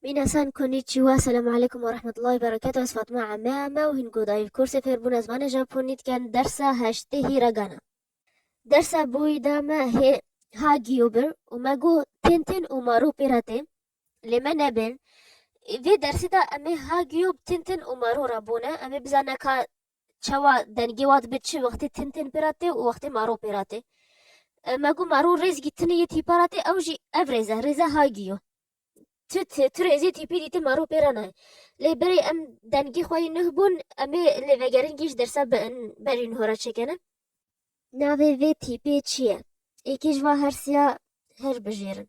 Mîna san Konnichiwa, Selam Aleykum û Rehmetullahî Bereketû Ez Fatma Ame Ame û hîn ku dayî kursê fêrbûna zimanê Japonî dikin dersa heştê Hiragana. Dersa bûyî da me hê ha giyo bir û me got tên tên û ma rû pêra tên lê me nebên. Vê dersê da em ê ha giyo bi tên tên û ma rû re bûne em ê bizane ka çawa dengê wa dibe çi wextê tin tên pêra tê û wextê maro pêra tê. Me got maro rêzgî tinê yê tîpa ra tê ew jî ev rêz e, rêza haygî yo. Tu tu tu rêzê tîpî dîtî maro pêra nayê. Lê berê em dengê xwe yê nuh bûn em ê lê vegerin kî ji dersa berî nuh re çêkene. Navê vê tîpê çi ye? Êkê ji va hersiya her bijêrin.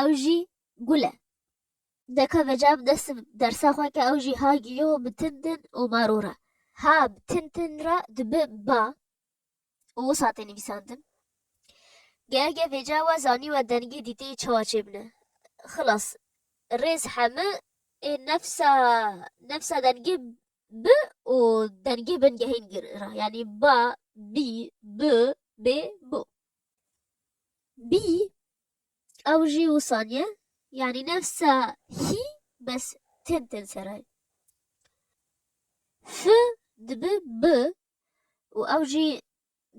ew jî gul e. Deka veca bi dest dersa xwe ke ew jî ha giyo bi tin tin û maro re. Ha bi tin tin re dibe ba û wisa tê nivîsandin. Gehege veca we zanî we dengê dîteyê çawa çêbine. Xilas, rêz heme ê nefsa nefsa dengê bi û dengê bingehên gir re yanî ba, bî, bi, bê, bo. Bî ew jî wisan ye yanî nefsa hî bes tên tên serayê. F dibi B û ew jî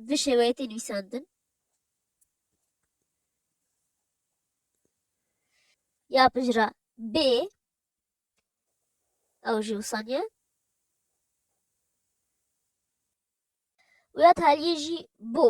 bi şêweyê tên wîsandin. Ya pijra B ew jî wisan ye. Û ya taliyê jî bo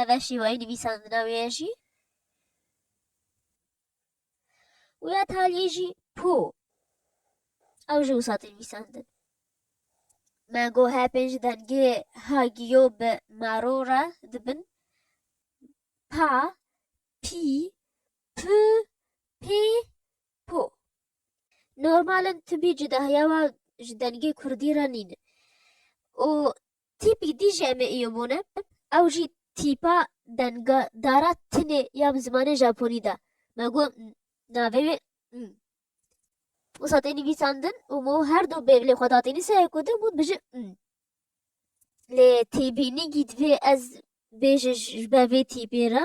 Ev e şîweyê nivîsandina wê ye jî. Û ya taliyê jî po. Ew ji wisatê nivîsandin. Me got her pênc dengê ha giyo bi maro re dibin. Pa, pî, pi, pê, Po. Normal in tibî cudahiya wa ji dengê kurdî re nîn. Û tîpî dî jî em ê îyo bûne, ew jî tîpa denga dara tinê ya bi zimanê japonî de. Me got navê wê m. Û sa tê nivîsandin û mo her du bê bilê xwe datî nîsayê ku din got bije m. Lê têbînî gît vê ez bêje ji ber vê tîpê re.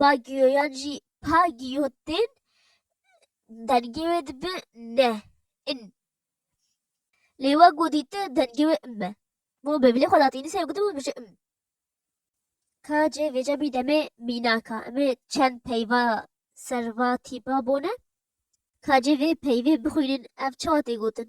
Bagiyoyan jî pa giyo tên, dengê wê dibe ne, in. Lê we ku dîte dengê wê im e. Bo bi bilê xwe da tînise ew gotibû dibêje im. Ka cê vêca bî demê mînak a. Em ê çend peyva serva tîpa bone. Ka cê vê peyvê bixwînin ev çawa tê gotin.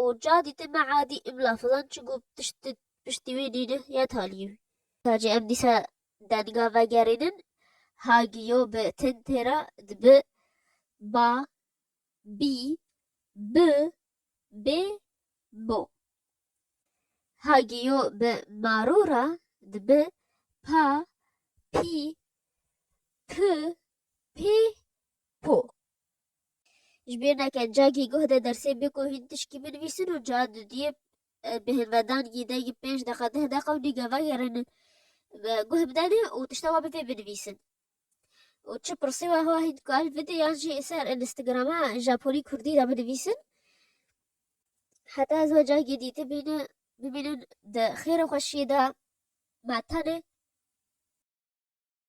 û ca dîtin me edî im lafizan çi got tişt di piştî wî nîne ya talî wî. Sacê em dîsa denga vegerînin ha giyo bi tin tê ra dibi ba, bî, bi, bê, bo. Ha giyo bi maro ra dibi pa, pî, pi, pê, po. Ji bîr neke cagî guh de dersê bê ku hîn tişkî binivîsin û ca dudiyê bi hilvedan gîdeyî pênc deqa deh deqa û nîge vegerin guh bidenê û tişta we bi vê binivîsin. Û çi pirsê we hewa hîn dikar videoyan jî ser Instagrama Japonî Kurdî de binivîsin. Heta ez we cagê dîtî bîne bibînin di xêr û xweşiyê de me tenê